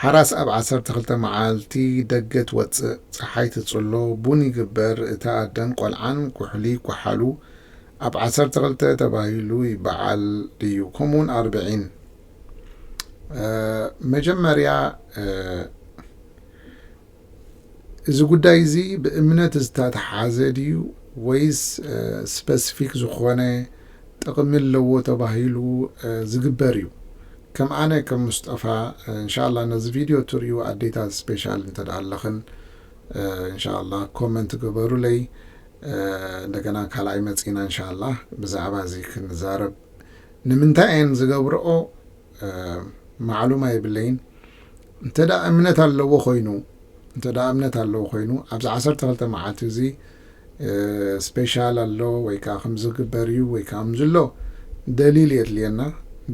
ሓራስ ኣብ ዓሰርተ ክልተ መዓልቲ ደገ ትወጽእ፣ ጸሓይ ትጽሎ፣ ቡን ይግበር፣ እታ ኣደን ቆልዓን ኩሕሊ ይኳሓሉ፣ ኣብ ዓሰርተ ክልተ ተባሂሉ ይበዓል ድዩ? ከምኡውን ኣርብዒን መጀመርያ እዚ ጉዳይ እዚ ብእምነት ዝተትሓዘ ድዩ ወይስ ስፐስፊክ ዝኾነ ጥቕሚ ኣለዎ ተባሂሉ ዝግበር እዩ ከም ኣነ ከም ሙስጠፋ እንሻላ ነዚ ቪድዮ ትሪኡ ኣዴታት ስፔሻል እንተ ኣለኽን እንሻላ ኮመንት ግበሩለይ እንደገና ካልኣይ መፂና እንሻላ ብዛዕባ እዚ ክንዛረብ ንምንታይ እየን ዝገብረኦ ማዕሉማ የብለይን እንተ እምነት ኣለዎ ኮይኑ እንተ እምነት ኣለዎ ኮይኑ ኣብዚ ዓሰርተ ክልተ መዓልቲ እዚ ስፔሻል ኣሎ ወይ ከዓ ከምዚ ክግበር እዩ ወይ ከዓ ከምዚ ኣሎ ደሊል የድልየና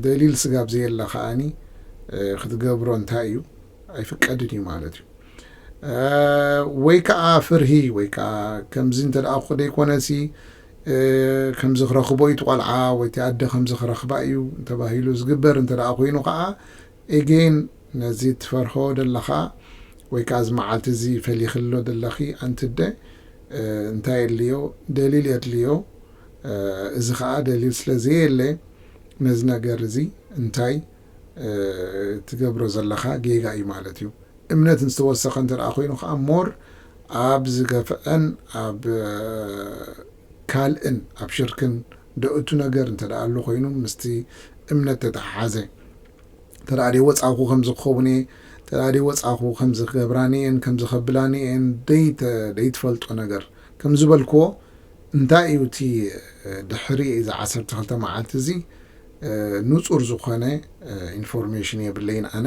ደሊል ስጋብ ዘየለ ከዓኒ ክትገብሮ እንታይ እዩ ኣይፍቀድን እዩ ማለት እዩ ወይ ከዓ ፍርሂ ወይ ከዓ ከምዚ እንተ ደኣ ዘይኮነሲ ከምዚ ክረኽቦ እዩ እቲ ቆልዓ ወይ እቲ ኣደ ከምዚ ክረኽባ እዩ ተባሂሉ ዝግበር እንተ ደኣ ኮይኑ ከኣ Again ነዚ ትፈርሆ ደለኻ ወይ ከኣ እዚ መዓልቲ እዚ ፈሊኽሎ ደለኺ ኣንቲ ኣደ እንታይ የድልዮ ደሊል የድልዮ እዚ ከኣ ደሊል ስለ ዘየለ ነዚ ነገር እዚ እንታይ ትገብሮ ዘለኻ ጌጋ እዩ ማለት እዩ እምነት ዝተወሰኸ እንተ ኮይኑ ከኣ ሞር ኣብ ዝገፍዐን ኣብ ካልእን ኣብ ሽርክን ዶ እቱ ነገር እንተ ኣሎ ኮይኑ ምስቲ እምነት ተተሓሓዘ እንተ ደይ ወጻኹ ከምዚ ክኸውን እየ እንተ ደይ ወጻኹ ከምዚ ክገብራኒ እየን ከምዚ ከብላኒ እየን ደይትፈልጦ ነገር ከም ዝበልክዎ እንታይ እዩ እቲ ድሕሪ እዚ ዓሰርተ ክልተ መዓልቲ እዚ ኑጹር ዝኮነ ኢንፎርሜሽን የብለይን ኣነ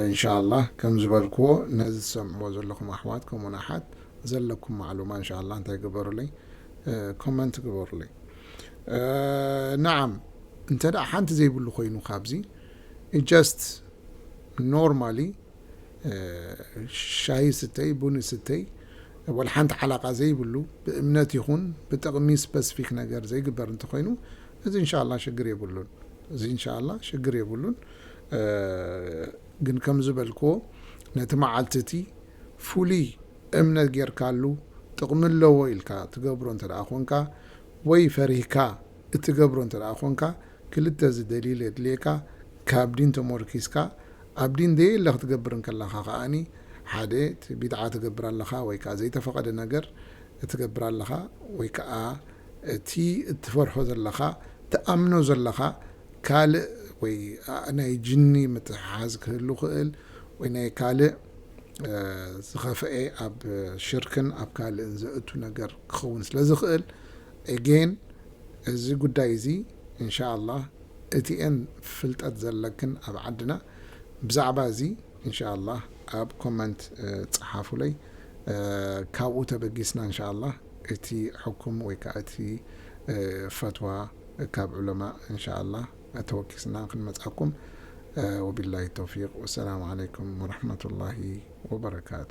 እንሻላህ ከም ዝበልክዎ ነዚ ትሰምዕዎ ዘለኩም ኣሕዋት ከምኡ ውን ኣሓት ዘለኩም ማዕሉማ እንሻላህ እንታይ ግበሩለይ ኮመንት ግበሩለይ ነዓም እንተ ሓንቲ ዘይብሉ ኮይኑ ካብዚ ጀስት ኖርማሊ ሻሂ ስተይ ቡኒ ስተይ ዋላ ሓንቲ ዓላቃ ዘይብሉ ብእምነት ይኹን ብጥቅሚ ስፐስፊክ ነገር ዘይግበር እንተኾይኑ እዚ እንሻላ ሽግር የብሉን እዚ እንሻላ ሽግር የብሉን ግን ከምዝበልክዎ ነቲ መዓልቲ እቲ ፍሉይ እምነት ጌርካሉ ጥቅሚ ኣለዎ ኢልካ ትገብሮ እንተደኣ ኮንካ ወይ ፈሪህካ እትገብሮ እንተደኣ ኮንካ ክልተ እዚ ደሊል የድልየካ ካብ ዲን ተሞርኪስካ ኣብ ዲን ዘየለ ክትገብር እንከለኻ ከኣኒ ሓደ እቲ ቢድዓ ትገብር ኣለኻ ወይ ከኣ ዘይተፈቐደ ነገር እትገብር ኣለኻ ወይ ከኣ እቲ እትፈርሖ ዘለኻ ትኣምኖ ዘለኻ ካልእ ወይ ናይ ጅኒ ምትሕሓዝ ክህሉ ክእል ወይ ናይ ካልእ ዝኸፈኤ ኣብ ሽርክን ኣብ ካልእን ዘእቱ ነገር ክኸውን ስለ ዝኽእል Again እዚ ጉዳይ እዚ እንሻኣላህ እቲኤን ፍልጠት ዘለክን ኣብ ዓድና ብዛዕባ እዚ እንሻኣላህ ኣብ ኮመንት ጸሓፉለይ ካብኡ ተበጊስና እንሻኣላህ እቲ ሕኩም ወይ ከኣ እቲ ፈትዋ ካብ ዑለማእ እንሻኣላህ ተወኪስና ክንመጽኣኩም ወቢላሂ ተውፊቅ ወሰላሙ ዓለይኩም ወረሕመቱላሂ ወበረካቱ።